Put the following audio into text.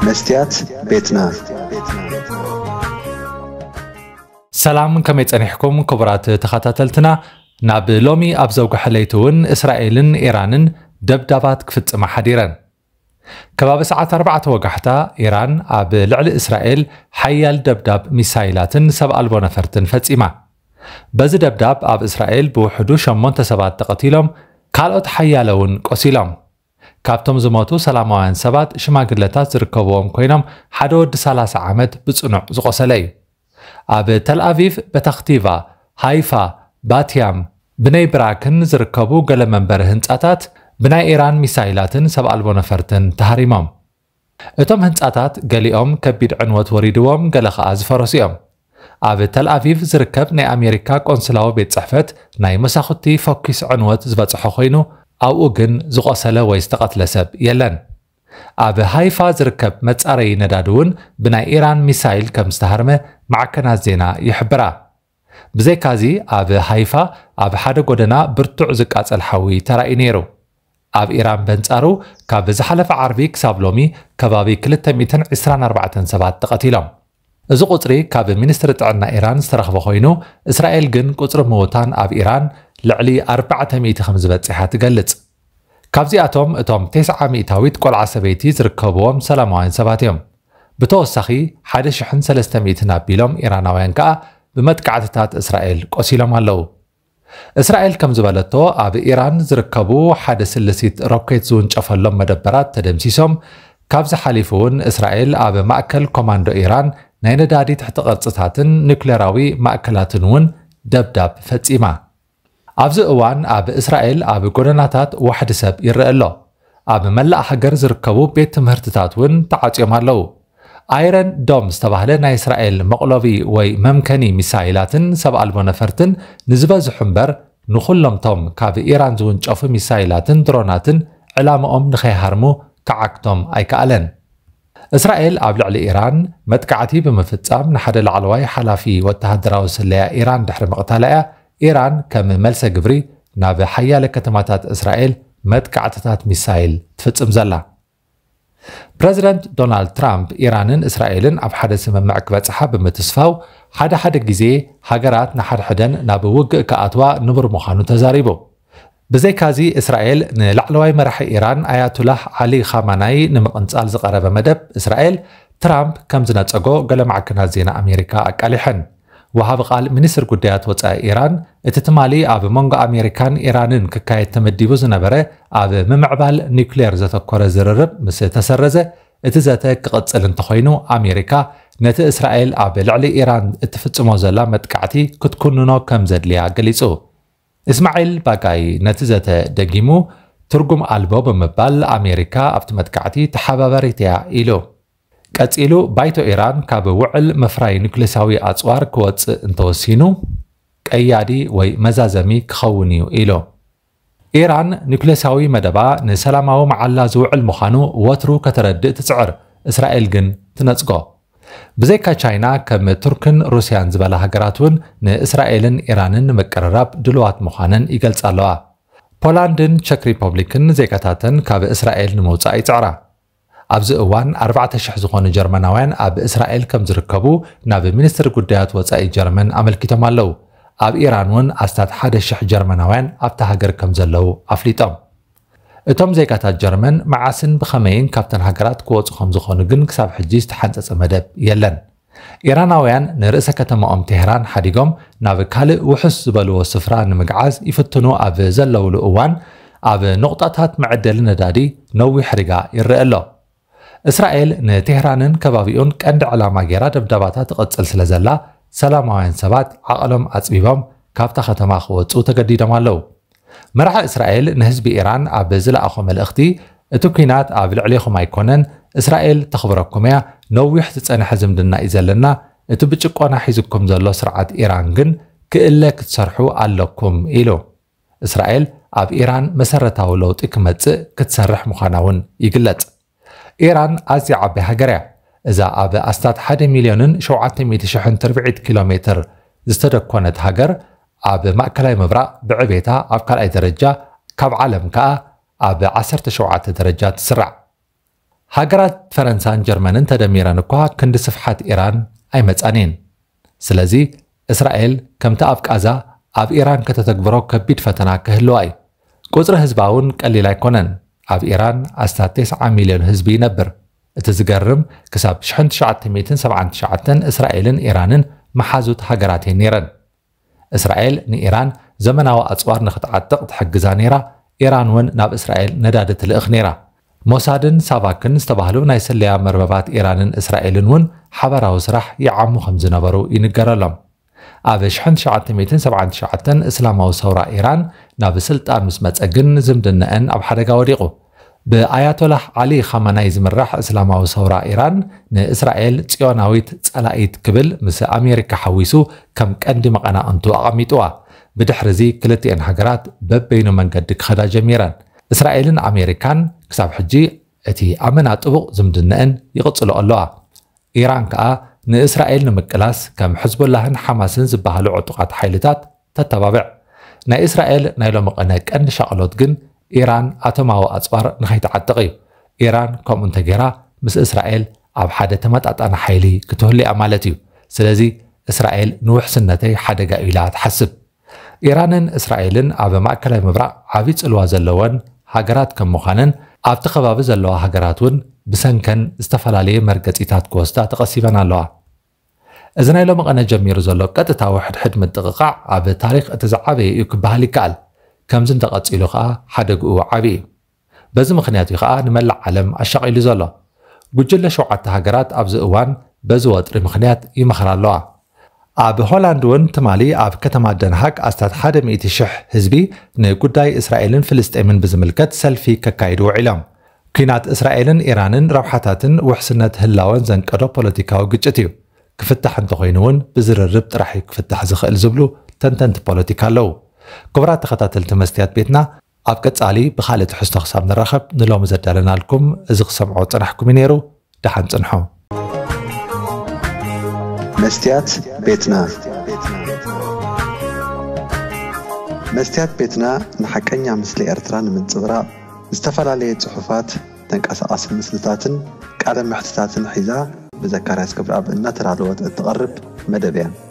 መስትያት ቤትና ሰላም ከመይ ጸኒሕኩም ክቡራት ተኸታተልትና ናብ ሎሚ ኣብ ዘውግሐ ለይቲ እውን እስራኤልን ኢራንን ደብዳባት ክፍጽማ ሓዲረን ከባቢ ሰዓት 4 ወጋሕታ ኢራን ኣብ ልዕሊ እስራኤል ሓያል ደብዳብ ሚሳይላትን ሰብ ኣልቦ ነፈርትን ፈጺማ በዚ ደብዳብ ኣብ እስራኤል ብውሕዱ ሸሞንተ ሰባት ተቐቲሎም ካልኦት ሓያለ እውን ቆሲሎም ካብቶም ዝሞቱ ሰላማውያን ሰባት ሽማግለታት ዝርከብዎም ኮይኖም ሓደ ወዲ ሰላሳ ዓመት ብጽኑዕ ዝቖሰለ እዩ። ኣብ ተልኣቪቭ፣ በታኽቲቫ፣ ሃይፋ፣ ባትያም፣ ብነይ ብራክን ዝርከቡ ገለ መንበሪ ህንጻታት ብናይ ኢራን ሚሳይላትን ሰብ ኣልቦ ነፈርትን ተሃሪሞም። እቶም ህንጻታት ገሊኦም ከቢድ ዕንወት ወሪድዎም ገለ ኸኣ ዝፈረሱ እዮም። ኣብ ተልኣቪቭ ዝርከብ ናይ ኣሜሪካ ቆንስላዊ ቤት ጽሕፈት ናይ መሳኹቲ ፈኲስ ዕንወት ዝበጽሖ ኮይኑ ኣብኡ ግን ዝቖሰለ ወይ ዝተቐትለ ሰብ የለን። ኣብ ሃይፋ ዝርከብ መጻረዪ ነዳዲ እውን ብናይ ኢራን ሚሳይል ከም ዝተሃርመ ማዕከናት ዜና ይሕብራ። ብዘይካዚ ኣብ ሃይፋ ኣብ ሓደ ጎደና ብርቱዕ ዝቃጸል ሓዊ ተራእዩ ነይሩ። ኣብ ኢራን በንጻሩ ካብ ዝሓለፈ ዓርቢ ክሳብ ሎሚ ከባቢ ክልተ ሚእትን ዕስራን ኣርባዕተን ሰባት ተቐቲሎም። እዚ ቁጽሪ ካብ ሚኒስትሪ ጥዕና ኢራን ዝተረኽበ ኮይኑ፣ እስራኤል ግን ቁጽሪ ምውታን ኣብ ኢራን ልዕሊ ኣርባዕተ ሚእቲ ከምዝበጽሓ ትገልጽ። ካብዚኣቶም እቶም ቴስዓ ሚእታዊት ቆልዓ ሰበይቲ ዝርከብዎም ሰላማውያን ሰባት እዮም። ብተወሳኺ ሓደ ሽሕን ሰለስተ ሚእትን ኣቢሎም ኢራናውያን ከኣ ብመጥቃዕትታት እስራኤል ቆሲሎም ኣለዉ። እስራኤል ከምዝበለቶ ኣብ ኢራን ዝርከቡ ሓደ ስልሲት ሮኬት ዝውንጨፈሎም መደበራት ተደምሲሶም፣ ካብዚ ሓሊፉ'ውን እስራኤል ኣብ ማእከል ኮማንዶ ኢራን ናይ ነዳዲ ትሕቲ ቅርጽታትን ኑክሌራዊ ማእከላትን'ውን ደብዳብ ፈጺማ። ኣብዚ እዋን ኣብ እስራኤል ኣብ ጎደናታት ዋሕዲ ሰብ ይረኣ ኣሎ። ኣብ መላእ ሃገር ዝርከቡ ቤት ትምህርትታት እውን ተዓጽዮም ኣለዉ። ኣይረን ዶም ዝተባህለ ናይ እስራኤል መቕሎቢ ወይ መምከኒ ሚሳይላትን ሰብ ኣልቦ ነፈርትን ንዝበዝሑ እምበር ንዅሎም'ቶም ካብ ኢራን ዝውንጨፉ ሚሳይላትን ድሮናትን ዕላማኦም ንኸይሃርሙ ክዓግቶም ኣይከኣለን። እስራኤል ኣብ ልዕሊ ኢራን መጥቃዕቲ ብምፍጻም ንሓደ ላዕለዋይ ሓላፊ ወተሃደራዊ ስለያ ኢራን ድሕሪ ምቕታላ'ያ ኢራን ከም መልሰ ግብሪ ናብ ሓያለ ከተማታት እስራኤል መጥቃዕትታት ሚሳይል ትፍጽም ዘላ። ፕረዚደንት ዶናልድ ትራምፕ ኢራንን እስራኤልን ኣብ ሓደ ስምምዕ ክበጽሓ ብምትስፋው ሓደ ሓደ ግዜ ሃገራት ንሓድሕደን ናብ ውግእ ክኣትዋ ንቡር ምዃኑ ተዛሪቡ። ብዘይካዚ እስራኤል ንላዕለዋይ መራሒ ኢራን ኣያቱላህ ዓሊ ኻማናይ ንምቕንጻል ዝቐረበ መደብ እስራኤል ትራምፕ ከም ዝነጸጎ ገለ ማዕከናት ዜና ኣሜሪካ ኣቃሊሐን። ወሃቢ ቃል ሚኒስትሪ ጉዳያት ወጻኢ ኢራን እቲ ትማሊ ኣብ መንጎ ኣሜሪካን ኢራንን ክካየድ ተመዲቡ ዝነበረ ኣብ ምምዕባል ኒውክሌር ዘተኮረ ዝርርብ ምስ ተሰረዘ እቲ ዘተ ክቕጽል እንተኾይኑ ኣሜሪካ ነቲ እስራኤል ኣብ ልዕሊ ኢራን እትፍጽሞ ዘላ መጥቃዕቲ ክትኩንኖ ከም ዘድልያ ገሊጹ። እስማዒል ባጋይ ነቲ ዘተ ደጊሙ ትርጉም ኣልቦ ብምባል ኣሜሪካ ኣብቲ መጥቃዕቲ ተሓባባሪት እያ ኢሉ። ቀጺሉ ባይቶ ኢራን ካብ ውዕል ምፍራይ ኑክሌሳዊ ኣጽዋር ክወጽእ እንተወሲኑ ቀያዲ ወይ መዛዘሚ ክኸውን እዩ ኢሉ። ኢራን ኑክሌሳዊ መደባ ንሰላማዊ መዓላ ዝውዕል ምዃኑ ወትሩ ከተረድእ ትጽዕር፣ እስራኤል ግን ትነጽጎ። ብዘይካ ቻይና ከም ቱርክን ሩስያን ዝበላ ሃገራት እውን ንእስራኤልን ኢራንን ንምቅርራብ ድሉዋት ምዃነን ይገልጻ ኣለዋ። ፖላንድን ቸክ ሪፖብሊክን ዜጋታተን ካብ እስራኤል ንምውጻእ ይጽዕራ። ኣብዚ እዋን ኣርባዕተ ሽሕ ዝኾኑ ጀርመናውያን ኣብ እስራኤል ከም ዝርከቡ ናብ ሚኒስትሪ ጉዳያት ወጻኢ ጀርመን ኣመልኪቶም ኣለዉ። ኣብ ኢራን እውን ኣስታት ሓደ ሽሕ ጀርመናውያን ኣብታ ሃገር ከም ዘለዉ ኣፍሊጦም። እቶም ዜጋታት ጀርመን መዓስን ብኸመይን ካብተን ሃገራት ክወጹ ከም ዝኾኑ ግን ክሳብ ሕጂ ዝተሓንጸጸ መደብ የለን። ኢራናውያን ንርእሰ ከተማኦም ቴህራን ሓዲጎም ናብ ካልእ ውሑስ ዝበልዎ ስፍራ ንምግዓዝ ይፍትኑ ኣብ ዘለውሉ እዋን ኣብ ኑቕጣታት መዐደሊ ነዳዲ ነዊሕ ሪጋ ይረኤ ኣሎ። እስራኤል ንቴህራንን ከባቢኡን ቀንዲ ዕላማ ገይራ ደብዳባታ ትቕጽል ስለ ዘላ ሰላማውያን ሰባት ዓቐሎም ኣጽቢቦም ካብታ ከተማ ክወጹ ተገዲዶም ኣለዉ። መራሒ እስራኤል ንህዝቢ ኢራን ኣብ ዝለኣኾ መልእኽቲ እቲ ኲናት ኣብ ልዕሌኹም ኣይኮነን፣ እስራኤል ተኽብረኩም እያ፣ ነዊሕ ዝጸንሐ ዝምድና እዩ ዘለና፣ እቲ ብጭቆና ሒዙኩም ዘሎ ስርዓት ኢራን ግን ክእለ ክትሰርሑ ኣለኩም ኢሉ። እስራኤል ኣብ ኢራን መሰረታዊ ለውጢ ክመጽእ ክትሰርሕ ምዃና እውን ይግለጽ። ኢራን ኣዝያ ዓባይ ሃገር እያ። እዛ ኣብ ኣስታት ሓደ ሚልዮንን ሸውዓተ ሚእቲ ሽሕን ትርብዒት ኪሎ ሜትር ዝተደኮነት ሃገር ኣብ ማእከላይ ምብራቕ ብዕቤታ ኣብ ካልኣይ ደረጃ ካብ ዓለም ከኣ ኣብ ዓሰርተ ሸውዓተ ደረጃ ትስራዕ። ሃገራት ፈረንሳን ጀርመንን ተደሚረን እኳ ክንዲ ስፍሓት ኢራን ኣይመጻን እየን። ስለዚ እስራኤል ከምቲ ኣብ ቃዛ ኣብ ኢራን ከተተግብሮ ከቢድ ፈተና ክህልዋ እዩ። ቁጽሪ ህዝባ እውን ቀሊል ኣይኮነን። ኣብ ኢራን ኣስታት ቴስዓ ሚልዮን ህዝቢ ይነብር። እቲ ዝገርም ክሳብ ሽሕን ትሽዓተ ሚእትን ሰብዓን ትሽዓተን እስራኤልን ኢራንን መሓዙት ሃገራት እየን ነይረን። እስራኤል ንኢራን ዘመናዊ ኣጽዋር ንኽትዓጥቕ ትሕግዛ ነይራ፣ ኢራን እውን ናብ እስራኤል ነዳዲ ትልእኽ ነይራ። ሞሳድን ሳቫክን ዝተባህሉ ናይ ስለያ መርበባት ኢራንን እስራኤልን እውን ሓባራዊ ስራሕ ይዓሙ ከም ዝነበሩ ይንገረሎም። ኣብ ኣሽሕን ትሽዓተ ሚእትን ሰብዓን ትሽዓተን እስላማዊ ሰውራ ኢራን ናብ ስልጣን ምስ መጸ ግን ዝምድነኣን ኣብ ሓደጋ ወዲቑ። ብኣያቶላህ ዓሊ ኻማናይ ዝምራሕ እስላማዊ ሰውራ ኢራን፣ ንእስራኤል ጽዮናዊት ጸላኢት ክብል ምስ ኣሜሪካ ሓዊሱ ከም ቀንዲ መቐናቕንቱ ኣቐሚጥዋ። ብድሕሪ'ዚ ክልቲኤን ሃገራት በበይኑ መንገዲ ክኸዳ ጀሚረን። እስራኤልን ኣሜሪካን ክሳብ ሕጂ እቲ ኣመና ጥቡቕ ዝምድነኣን ይቕጽልኦ ኣለዋ። ኢራን ከኣ ንእስራኤል ንምቅላስ ከም ሕዝቦላህን ሓማስን ዝበሃሉ ዕጡቓት ሓይልታት ተተባብዕ። ናይ እስራኤል ናይ ሎሚ ቐነ ቀንዲ ሻቕሎት ግን ኢራን ኣቶማዊ ኣጽዋር ንኸይትዓጥቕ እዩ። ኢራን ከምኡ እንተገይራ ምስ እስራኤል ኣብ ሓደ ተመጣጣኒ ሓይሊ ክትህሉ'ያ ማለት እዩ። ስለዚ እስራኤል ንውሕስነተይ ሓደጋ'ዩ ኢላ ትሓስብ። ኢራንን እስራኤልን ኣብ ማእከላይ ምብራቕ ዓቢ ጽልዋ ዘለወን ሃገራት ከም ምዃነን፣ ኣብቲ ከባቢ ዘለዋ ሃገራት እውን ብሰንከን ዝተፈላለየ መርገጺታት ክወስዳ ተቐሲበን ኣለዋ። እዚ ናይ ሎምቐነ ጀሚሩ ዘሎ ቀጥታዊ ሕድሕድ ምጥቕቓዕ ኣብ ታሪኽ እቲ ዝዓበየ እዩ ክበሃል ይከኣል፣ ከምዚ እንተቐጺሉ ከኣ ሓደግኡ ዓቢ እዩ። በዚ ምኽንያት እዩ ከኣ ንመላእ ዓለም ኣሻቒሉ ዘሎ። ጉጅለ ሸውዓተ ሃገራት ኣብዚ እዋን በዚ ወጥሪ ምኽንያት ይመኽራ ኣለዋ። ኣብ ሆላንድ እውን ትማሊ ኣብ ከተማ ደንሃግ ኣስታት ሓደ ሚእቲ ሽሕ ህዝቢ ንጉዳይ እስራኤልን ፍልስጤምን ብዝምልከት ሰልፊ ከካይዱ ውዒሎም። ኲናት እስራኤልን ኢራንን ረብሓታትን ውሕስነት ህላወን ዘንቀዶ ፖለቲካዊ ግጭት እዩ። ክፍታሕ እንተኾይኑ እውን ብዝርርብ ጥራሕ እዩ ክፍታሕ ዝኽእል ዝብሉ ተንተንቲ ፖለቲካ ኣለዉ። ክቡራት ተኸታተልቲ መስትያት ቤትና፣ ኣብ ቀጻሊ ብኻልእ ትሕዝቶ ክሳብ ንራኸብ ንሎሚ ዘዳለናልኩም እዚ ክሰምዖ ዝጸናሕኩም እዩ ነይሩ ደሓን ጽንሑ። መስትያት ቤትና መስትያት ቤትና ንሓቀኛ ምስሊ ኤርትራ ንምንጽብራቕ ዝተፈላለየ ጽሑፋት፣ ተንቀሳቓሲ ምስልታትን ቃለ መሕትታትን ሒዛ ብዘካርያስ ገብረኣብ እናተዳለወት እትቐርብ መደብ እያ።